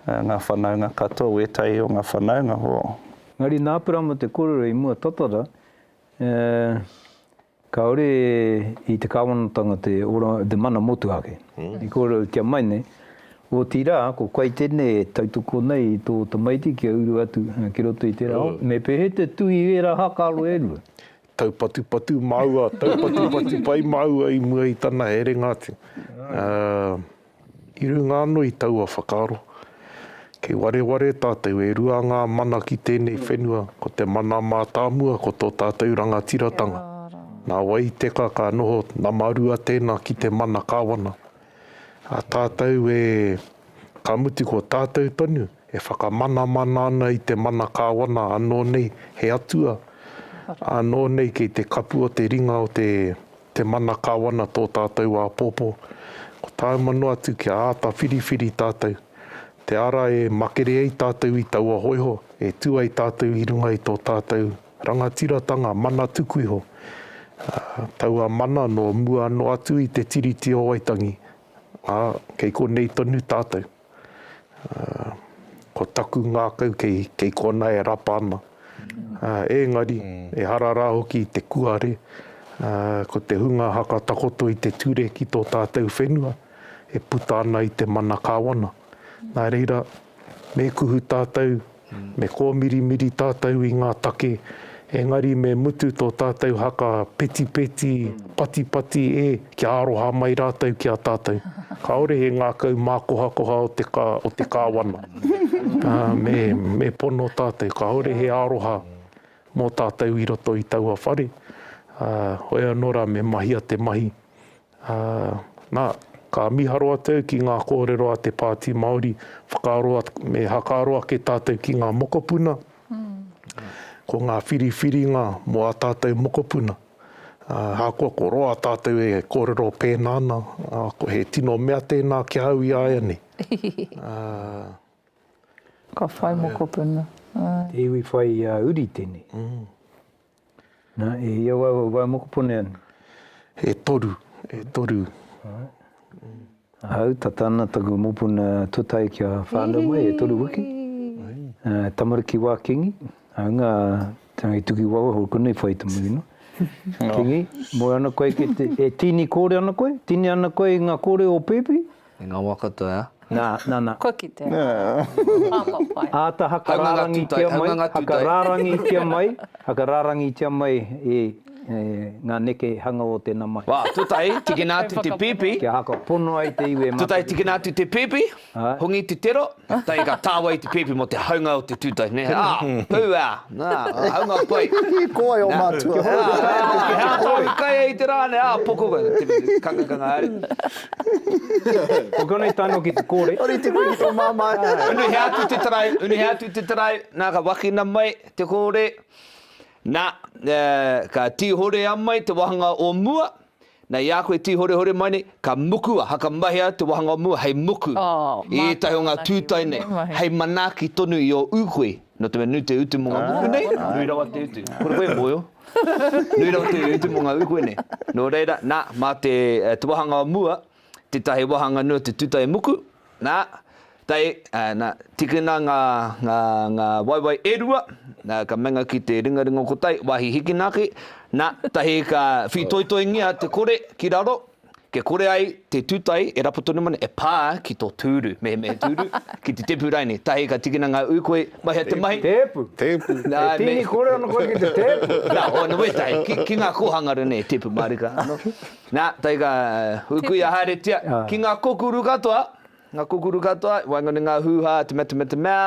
S6: nga whanaunga katoa, wetahi o nga whanaunga, oh. Engari nā Perama
S1: te kōrero i mua tatara, e, kāore i te Kāwanatanga te ora, te mana motuhake. I kōrerotia mai nei, otirā, ko Kaitene e tautoko nei i tō tamaiti kia uru atu ki roto i tērā ao, me pēhea te tū i ērā hākālo e rua? Taupatupatu
S3: māua, taupatupatu pai māua i mua i tana herenga atu. Ā. I runga ano i taua whakaaro, kei wareware tatou e rua nga mana ki tenei whenua, ko te mana matamua ko to tatou rangatiratanga. Na wai teka ka noho nama rua tena ki te mana kawana. A tatou e, ka mutu ko tatou tonu e whakamanamana ana i te mana kawana ano nei he atua, ano nei kei te kapu o te ringa o te Te mana Kawana tō tātou āpōpō, ko tāu mano atu kia āta whiriwhiri tātou, te ara e makere ai tātou i taua hōiho, e tū ai tātou i runga i tō tātou rangatiratanga mana tuku iho, ā, taua mana nō mua anō atu i te Tiriti o Waitangi, ā, kei konei tonu tātou. Ko taku ngākau kei kona e rapa ana, ēngari, ehara rā hoki i te kuare, ko te hunga haka takoto i te ture ki tō tātou whenua, e puta ana i te mana kāwana. Nā reira, me kuhu tātou, Me kōmirimiri tātou i ngā take, engari me mutu tō tātou haka petipeti, patipati e, kia aroha mai rātou ki a tātou. Kāore he ngākau mākohakoha o te, o te Kāwana. Me, me pono tātou, kāore he aroha mō tātou i roto i taua whare, ā, hoi anō rā me mahia te mahi Ā, nā, ka miharo atu au ki ngā kōrero a te Pāti Māori, whakaaro ake, me hakaaro ake tātou ki ngā mokopuna, ko ngā whiriwhiringa mō ā tātou mokopuna. Ā, ahakoa ko roa tātou e kōrero pēnā ana, ā, ko he tino mea tēnā ki a au ināianei. Ā.
S4: Ka whai mokopuna. Ā. Te iwi
S1: whai uri tēnei. Na, e hia wau a wai mokopone ana? E toru,
S3: e toru. Right.
S1: Ahau, tata ana taku mopuna totai kia whanau mai, e toru wiki. Uh, tamariki wa kingi, au nga tangi tuki wawa ho kuna i whai tamu ino. Kingi, moe ana koe ki te, e tini kore ana koe? Tini ana koe i nga kore o Pepi? E nga wa katoa
S5: ea. Na, na, na. Kua kitea.
S1: Papa
S4: pai. Ata
S1: hakararangitia mai, hakararangitia mai, hakararangitia mai e nga neke hanga o tena mahi. Wa, tutahi, tikina
S5: atu te pipi. Kia haka pono ai
S1: te iwi e mataritanga. Tutahi, tikina atu te pipi,
S5: hongi te tero. Tae ka tāwai te pēpi mō te haunga o te tūtahi, nē? Ā, pū, ā, nā, haunga pai. Ko wai ō mātua?
S6: Ā, he hātoa
S5: i kai ai te rā, nē, ā, poko koe, te kangakanga haere. Ko
S1: konei tae noa ki te kōre. Ōrite koe ki tō māmā.
S6: Unuhia atu te tarau,
S5: unuhia atu te tarau, nā, ka wakina mai te kōre, nā, ka tīhorea mai te wāhanga o mua, Na, i a koe e tīhorehore mai nei, ka muku a Hakamahea te wāhanga o mua hei muku i ētahi o ngā tūtae nei, hei manaaki tonu i ō ūkoe, nō te mea nui te utu mō ngā muku nei, nui rawa te utu. Kore koe e mōhio? Nui rawa te utu mō ngā ūkoe nei. Nō reira, nā, mā te wāhanga o mua, Tetahi wahanga nui o te tutai muku, na, tai, na, tikina nga, nga, nga waewae e rua, na, ka menga ki te ringaringa o ko tai, wahi hikina ake, na, tahi ka whitoitoingia te kore ki raro, kia kore ai te tutai e rapu tonu mana, e pa ki to turu, mehemehe turu, ki te tepu raine, tahi ka tikina nga uikoi, mahea te mahi. Tepu. Tepu.
S1: Na, me. E tingi kore ana koe ki te tepu. Na, o, na wetahi, ki,
S5: ki nga kohanga ranei, tepu marika ano. Nā, tei ka hukuia haeretia ki ngā kokuru katoa, ngā kokuru katoa, waenganui i ngā hūhā, te mea, te mea, te mea,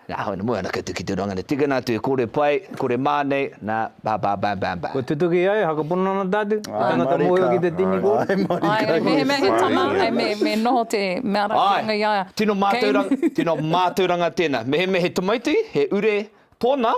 S5: nā, hoi nō, moe anake atu ki te roanga nei, tikana atu e kore pai, kore mā nei, nā, bā, bā, bam, bam, bam. Kua tutuki ai,
S1: whakapono ana tātou, he tangata mōhio ki te tini kōrero. Āe marika. Āe, āe, mehemea he
S4: tama, āe, me, me noho te mea rakitanga i a ia. Āe, tino mātauranga, tino
S5: mātauranga tēnā. Mehemea he tamaiti, he ure tōna,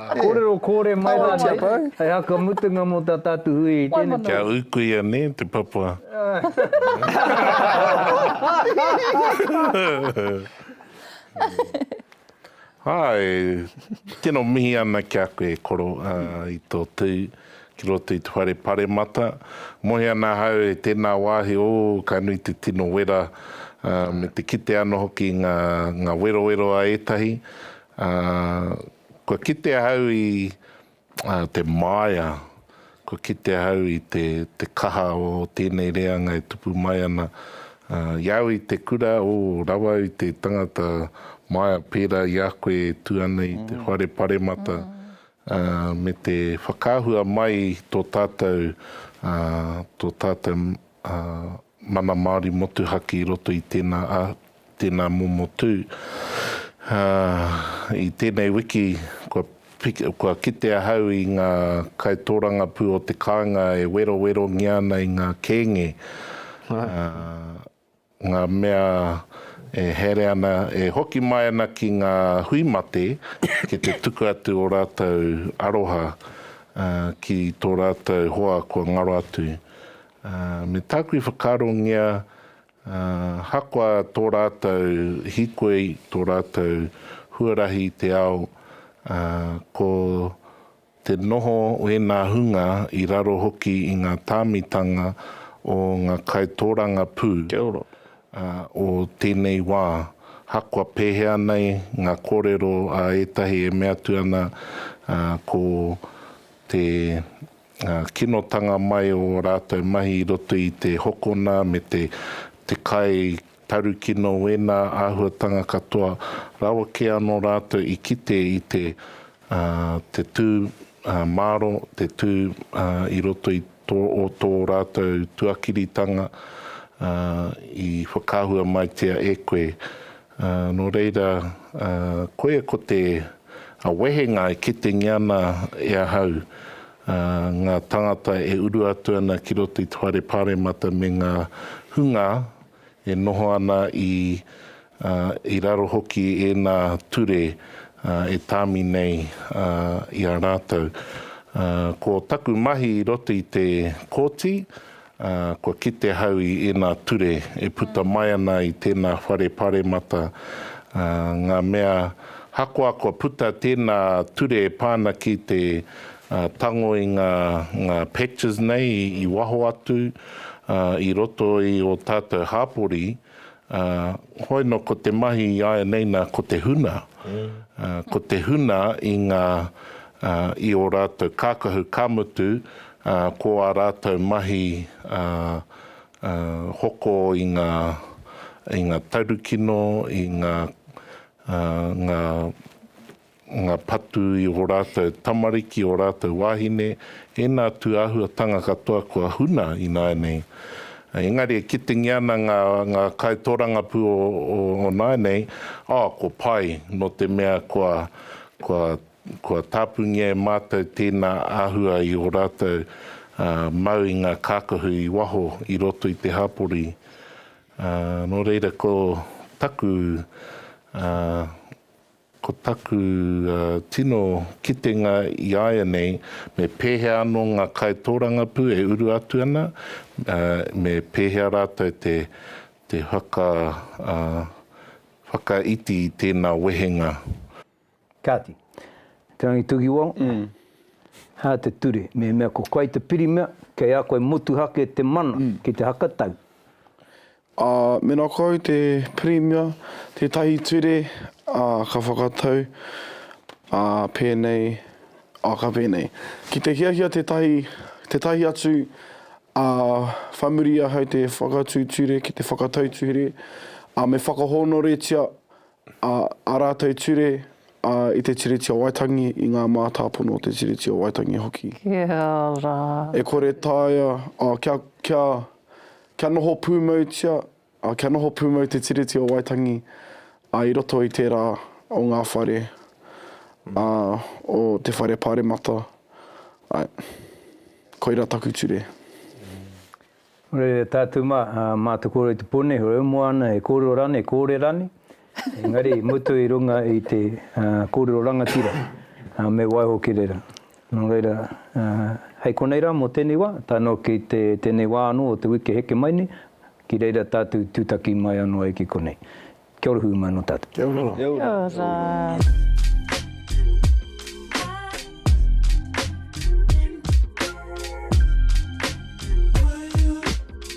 S4: Kōrero kōre mai
S1: rā nei, hei haka mutunga mō tā tātou hui i tēnei tau. Kia ūkuia nē
S7: te papa. Hai, tino mihi ana ki a koe e koro i tō tū ki roto i te whare paremata. Mohi ana ahau e tēnā wāhi, ō ka nui te tino wera me te kite ano hoki nga werowero a ētahi. Kua kite ahau i te māia, kua kite ahau i te kaha o tēnei reanga e tupu mai ana i au i te kura, o, rawa au i te tangata māia pērā i a koe e tū ana i te whare paremata, me te whakaahua mai i tō tātou, tō tātou mana Māori motuhake i roto i tēnā Tēnā momo tū. I tēnei wiki kua kite ahau i ngā kaitōrangapū o te kāinga e werowerongia ana i ngā kēnge, ngā mea e haere ana, e hoki mai ana ki ngā hui mate ki te tuku atu ō rātou aroha ki tō rātou hoa kua ngaro atu. Me tāku i whakaarongia Ahakoa tō rātou hīkoi, tō rātou huarahi i te ao, ko te noho o ēnā hunga i raro hoki i ngā tāmitanga o ngā kaitōrangapū
S6: o
S7: tēnei wā, ahakoa pēhea nei ngā kōrero a ētahi e mea atu ana ko te ngā kinotanga mai o ō rātou mahi i roto i te hokona me te te kai tarukino wēnā āhuatanga katoa rawa kē anō rātou i kite i te te tū māro, te tū i roto i tō o tō rātou tuakiritanga i whakaahua maitia e koe Ā, nō reira, ā, koia ko te wehenga e kitengia ana e ahau, ā, ngā tāngata e uru atu ana ki roto i te Whare Pāremata me ngā hunga e noho ana i, ā, i raro hoki i ēnā ture, ā, e tāmi nei, ā, i a rātou. Ā, ko taku mahi i roto i te Kōti, Ā, kua kite ahau i ēnā ture e puta mai ana i tēnā whare paremata, ā, ngā mea hakoa kua puta tēnā ture e pā ana ki te, ā, tango i ngā, ngā patches nei i waho atu, ā, i roto i ō tātou hāpori, Ā, hoino ko te mahi i āianei nā ko te huna, ā, ko te huna i ngā, ā, i ō rātou kākahu, ka mutu, ā, ko ā rātou mahi, ā, ā, hoko i ngā, i ngā taurukino, i ngā, ā, ngā. nga patu i o ratou tamariki, o ratou wahine, ena tu ahuatanga katoa kua huna inaenei. Engari e kitengia ana nga nga kaitorangapu o o naenei, oh ko pai no te mea kua kua kua tapungia e matou tena ahua i o ratou mau i nga kakahu i waho i roto i te hapori. No reira ko taku Ko taku tino kitenga i āianei, me pēhea anō ngā kaitōrangapū e uru atu ana, me pēhea rātou te whakaiti i tēnā wehenga. Kāti,
S1: Te Rangi Tukiwao, hā te ture, mehemea ko koe te pirimia, kei a koe motuhake te mana ki te hakatau. Ā,
S2: mēnā koau te Pirimia, tētahi ture, ā, ka whakatau, ā, pēnei, ā, ka pēnei. Ki te hiahia tētahi, tētahi atu, ā, whai muri i ahau te whakatū ture ki te whakatau tuhere, ā, me whakahōnoretia, ā, ā rātou ture, ā, i te Tiriti o Waitangi, i ngā mātāpono o te Tiriti o Waitangi hoki. Kia ra.
S4: E kore
S2: taea, ā, kia, kia, Kia noho pūmautia, kia noho pūmau te Tiriti o Waitangi i roto i tērā o ngā whare o te Whare Pāremata. Koirā taku ture.
S1: Tātou mā, mā Te Kōrero i te Pō nei, he moana, he kōrero rānei, he kōrerani, Engari, i mutu i runga i te kōrero rangatira, me waiho ki reira. Nō reira, hei konei rā mō tēnei wā, tae noa ki tēnei wā anō o te wiki e heke mai nei, ki reira tātou tūtaki mai anō ai ki konei. Kia ora hui mai anō tātou. Kia
S4: ora.
S1: Kia ora. Kia ora.